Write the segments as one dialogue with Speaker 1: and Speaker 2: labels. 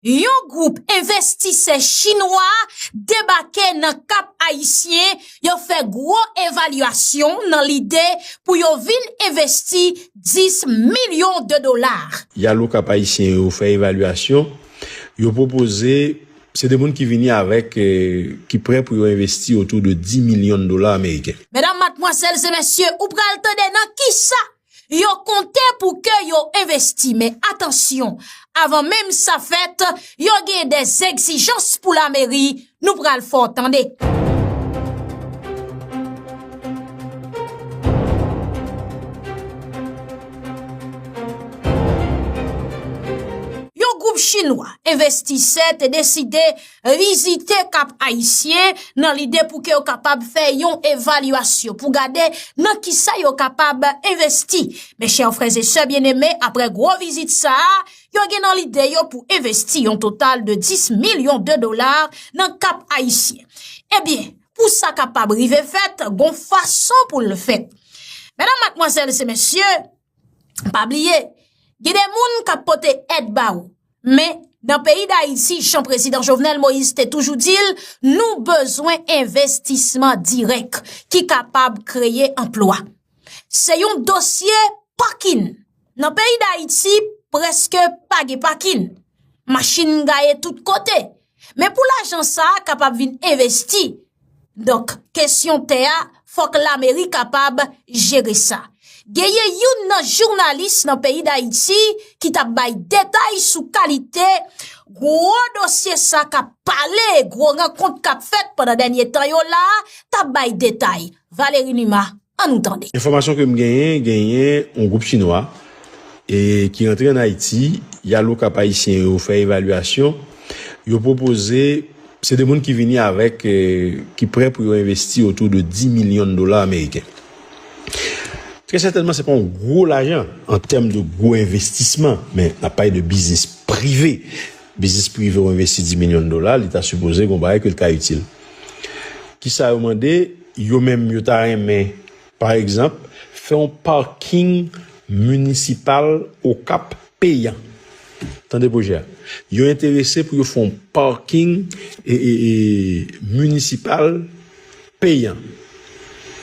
Speaker 1: Yon gwoup envestisè chinwa debake nan Kap Ayisyen, yo fè gwo evalyasyon nan lide pou yo vin envesti 10 milyon de dola. Yal o Kap Ayisyen
Speaker 2: yo fè evalyasyon, yo pwopoze, se de moun ki vini avèk, ki prè pou yo envesti otou de 10 milyon dola ameriken. Medam, matmwazèl
Speaker 1: e mesye, ou pral tande nan kisa Yo konte pou ke yo envesti men atansyon, avan menm sa fèt, yo gen de zegzijans pou lameri, nou pral fè w tande. Yon gwoup chinwa envestisè te deside vizite Kap Ayisyen nan lide pou ke yo kapab fè yon evalyasyon pou gade nan ki sa yo kapab envesti. Mes chers frères et sœurs bien-aimés, aprè gwo vizit sa a, yo gen nan lide yo pou envesti yon total de 10 milyon de dolar nan Kap Ayisyen. Ebyen, pou sa kapab rive fèt, gon fason pou l fèt. Medam, matmwazèl se mesye, Pa bliye, gen de moun kap pote èd ba ou. Men, nan peyi Dayiti, jan prezidan Jovenel Moïse te toujou di l, nou bezwen envestisman dirèk ki kapab kreye anplwa. Se yon dosye pakin. Nan peyi Dayiti, preske pa gen pakin. Machin gaye tout kote. Men pou lajan sa a kapab vin envesti, donk kesyon tè a fòk lameri kapab jere sa. Genyen youn nan jounalis nan peyi Dayiti ki t ap bay detay sou kalite gwo dosye sa k ap pale, gwo rankont k ap fèt pandan dènye tan yo la a, t ap bay detay. Valery Numa, An nou tande. Enfòmasyon ke m genyen,
Speaker 2: genyen yon gwoup chinwa e ki rantre an Ayiti, y al Okap Ayisyen yo fè evalyasyon, yo pwopoze, se de moun ki vini avèk, ki prè pou yo envesti otou de 10 milyon dola ameriken. Trè sètènman se pa yon gwo lajan an tèm de gwo envestisman, men n ap pale de biznis prive. Biznis prive ou envesti 10 milyon dola li ta sipoze gon bagay ke li ka itil. Kisa yo mande, yo menm yo ta renmen pa egzanp fè yon parking municipal Okap peyan. Tande pwojè a. Yo enterese pou yo fè yon parking municipal peyan.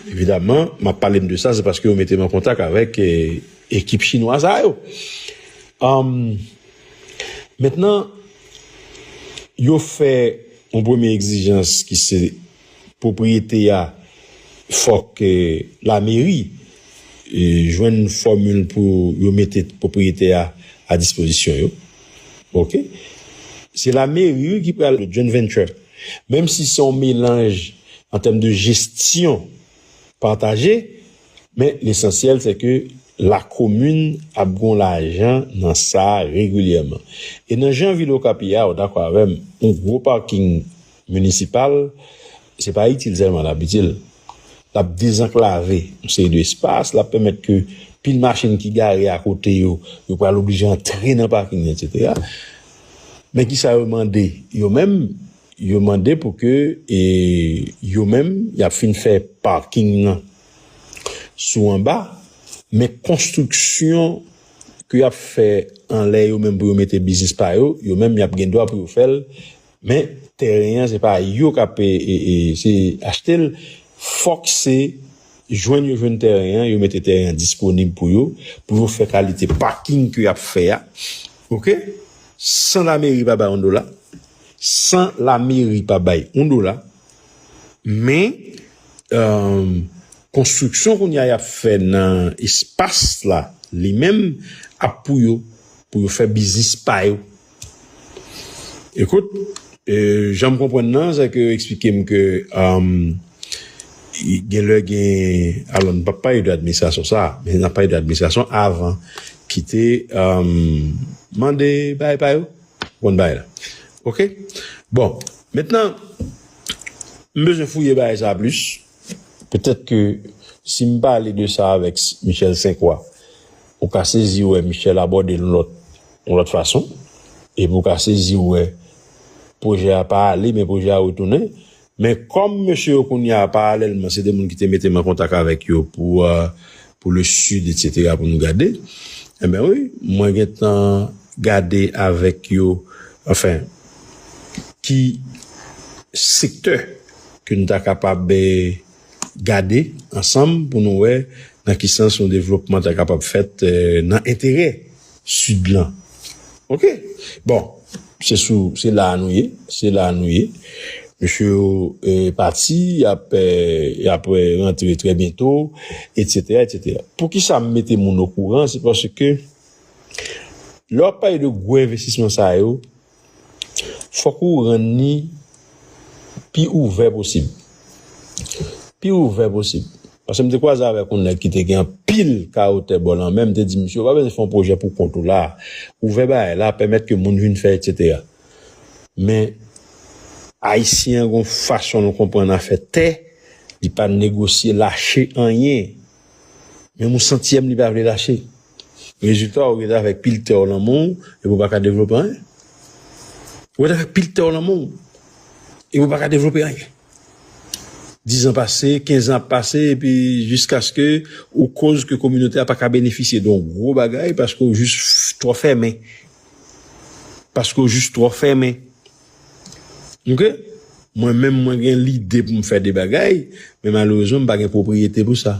Speaker 2: Evidaman map pale m de sa se paske yo mete m an kontak avèk ekip chinwa sa yo. Mentnan, yo fè yon premye egzijans ki se pwopriyete a fòk lameri jwenn fòmil pou yo mete pwopriyete a a dispozisyon yo. Ok. Se lameri wi ki pral joint venture menm si se yon melanj an tèm de jesyon pataje. Men lesansyèl se ke lakomin ap gen yon lajan nan sa regilyèman. E nan jan vil Okap ye a, ou dakò avè m, yon gwo paking minisipal, se pa itil sèlman l ap itil. L ap dezanklave yon seri de espas, l ap pèmèt ke pil machin ki gare akote yo, yo pral oblije antre nan paking nan, etsetera. Men kisa yo mande yo menm, Yo mande pou ke yo menm y ap fin fè paking nan sou anba, men konstriksyon ke y ap fè anlè yo menm pou yo mete biznis pa yo, yo menm y ap gen dwa pou yo fè l, men tèren an se pa yo k ap achte l, fòk se jwenn yo jwenn tèren an, yo mete tèren an disponib pou yo, pou yo fè kalite paking ke y ap fè a, ok, san lameri pa bay yon dola. San la meri pa bay yon dola, men konstriksyon kounye a y ap fè nan espas la li menm ap pou yo, pou yo fè biznis pa yo. Ekout, jan m konprann nan, se ke yo eksplike m ke gen lè gen, alò nou p ap pale de administrasyon sa a, men n ap pale de administrasyon avan ki te mande bagay pa yo. Bon bagay la. Ok. Bon. Mentnan, m bezwen fouye bagay sa plis. Petèt ke si m pale de sa avèk Michel Senkwa, ou ka sezi wè Michel abòde l yon lòt fason. Epi ou ka sezi wè pwojè a pa ale men pwojè a retounen. Men kòm mesye yo kounya paralèlman se 2 moun ki te mete m an kontak avèk yo pou pou le sud etc pou nou gade enben wi mwen gentan gade avèk yo anfen ki sektè ke nou ta kapab gade ansanm pou nou wè nan ki sans yon devlopman ta kapab fèt nan enterè Sud lan ok bon se sou se la a nou ye se la a nou ye mesye yo pati yap yap rantre trè byento etc etc poukisa m mete moun okouran se paske lè wap pale de gwo envestisman sa yo Fòk ou rann ni pi ouvè posib. Pi ouvè posib. Pase m te kwaze avèk yon nèg ki te gen anpil karote bò lanmè, m te di misye ou pa bezwen fè yon pwojè pou kont ou la, ouvè bagay la, pèmèt ke moun vin fè etsetera. Men, Ayisyen an gen yon fason l konprann afè tè, li pa negosye lache anyen. Menm yon santyèm li pa vle lache. Rezilta ou rete avèk pil tè ou lan men w epi ou pa ka devlope anyen. Ou rete avèk pil tè ou lan men w epi ou pa ka devlope anyen. Dizan pase, kenzan ap pase epi jiskaske ou koz ke kominote a pa ka benefisye de yon gwo bagay paske ou jis twò fèmen. Paske ou jis twò fèmen. Ok mwen menm mwen gen lide pou m fè de bagay men malerezman m pa gen pwopriyete pou sa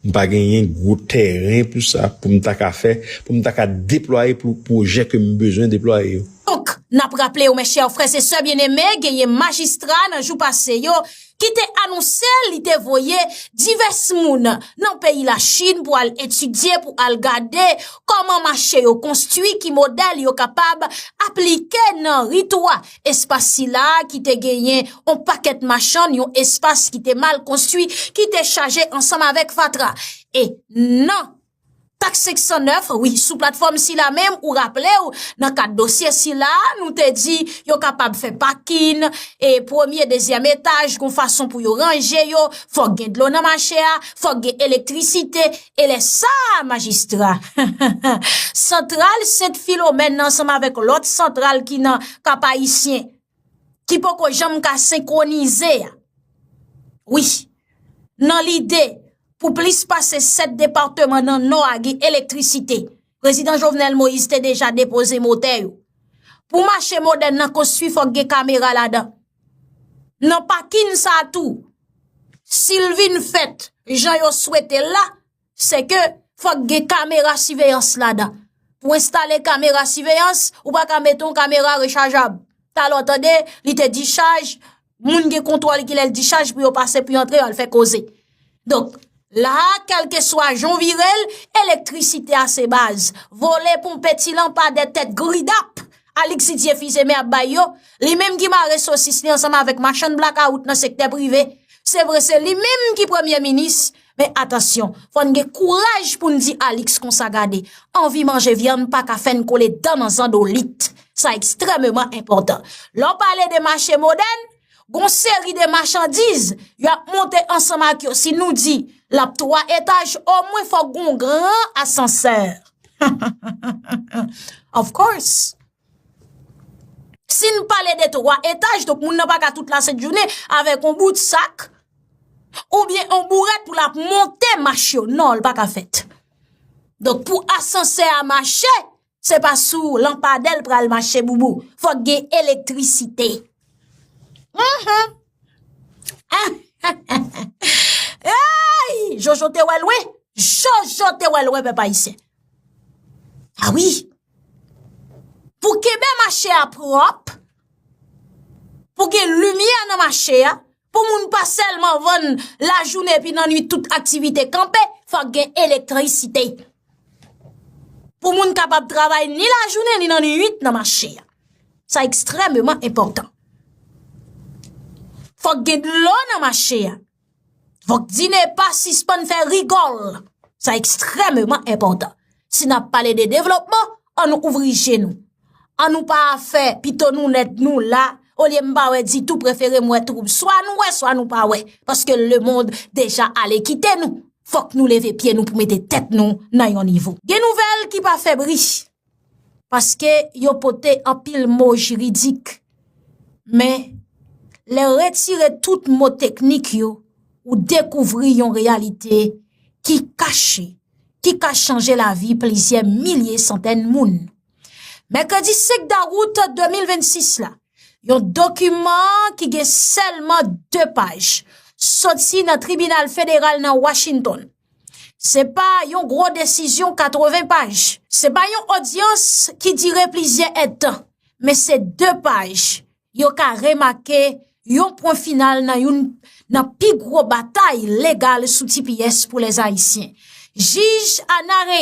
Speaker 2: m pa genyen gwo tèren pou sa pou m ta ka fè pou m ta ka deplwaye pou pwojè ke m bezwen deplwaye yo. Donk, n ap
Speaker 1: raple ou mè chè frè se sè byeneme genyen majistra nan jou pase yo ki te anonse li te voye divès moun nan peyi la Chine pou al etidye, pou al gade kòman mache yo konstwi, ki modèl yo kapab aplike nan ritwa. Espas sila ki te genyen yon pakèt machann, yon espas ki te mal konstwi, ki te chaje ansanm avèk fatra. E nan. Tax 509, wi, sou platfòm sila menm ou raple ou nan kad dosye sila nou te di yo kapab fè pakin e premye dezyèm etaj kon fason pou yo ranje yo, fòk gen dlo nan mache a, fòk gen elektrisite, e lè sa majistra. Santral Sent Filomèn ansanm avèk lòt santral ki nan Kap Ayisyen. ki poko janm ka senkwonize a. Wi, nan lide pou plis pase 7 departeman nan nò a gen elektrisite, Prezidan Jovenel Moïse te deja depoze motè yo. Pou mache modèn nan konstwi fòk gen kamera ladan. Nan pakin sa tou, si l vin fèt jan yo swete l la, se ke fòk gen kamera siveyans ladan. Pou enstale kamera siveyans, ou pa ka mete yon kamera rechajab. Talò tande, li te dichaj, moun gen kontwòl ki lèl dichaj pou yo pase pou yo antre al fè koze. Donk, la a, kelke swa jan virel, elektrisite a se baz. Vole, ponpe, ti lanpa de tèt gridap, Alix Didier Fils-Aimé ap bay yo, li menm ki mare sosis li ansanm avèk machann blakawout nan sektè prive, se vre se li menm ki premye minis, Men atansyon, fò n gen kouraj pou n di Alix konsa gade, anvi manje vyann pa ka fè n kole dan nan zandolit. Sa ekstrèmeman enpòtan. Lè w pale de mache modèn, gon seri de machandiz, yo ap monte ansanm ak yo. Si nou di, l ap 3 etaj, omwen fò gon gran asansè. Of course! Si n pale de 3 etaj, donk moun nan pa ka tout la sent jounen avèk on bout sak, ou byen on bourèt pou l ap monte mach yo. Non, l pa ka fèt. Donk pou asansè a mache, se pa sou lanpadè l pral mache boubou. Fòk gen elektrisite. Anhan! Anhanhanhan! Eyy! Jojo te wè lwen! Jojo te wè lwen, pèp Ayisyen! A wi! Pou kenbe mache a pwòp, pou gen limyè nan mache a, pou moun pa sèlman vann lajounen epi nan nwit tout aktivite kanpe, fòk gen elektrisite. Pou moun kapab travay ni lajounen ni nan nwit nan mache a. Sa ekstrèmeman enpòtan. Fòk gen dlo nan mache a. Fok DINEPA sispann fè rigòl. Sa ekstrèmeman enpòtan. Si n ap pale de devlopman, an nou ouvri je nou. An nou pa fè pito nou lèd nou la, olye m pa wè ditou prefere m wè twoub. Swa nou wè, swa nou pa wè. Paske lemond deja ale kite nou. Fok nou leve pye nou pou mete tèt nou nan yon nivo. Gen nouvèl ki pa fè bri. paske yo pote anpil mo jiridik, men lè w retire tout mo teknik yo, ou dekouvri yon reyalite ki kache, ki ka chanje lavi plizyè milye santèn moun. Mèkredi 5 dawout 2026 la, yon dokiman ki gen sèlman 2 paj, soti nan tribinal federal nan Washington, Se pa yon gwo desizyon 80 paj, se pa yon odyans ki dire plizyè èdtan, men se 2 paj yo ka remake yon pwen final nan youn nan pi gwo batay legal sou tps pou lèzayisyen. Jij Ana Reyen.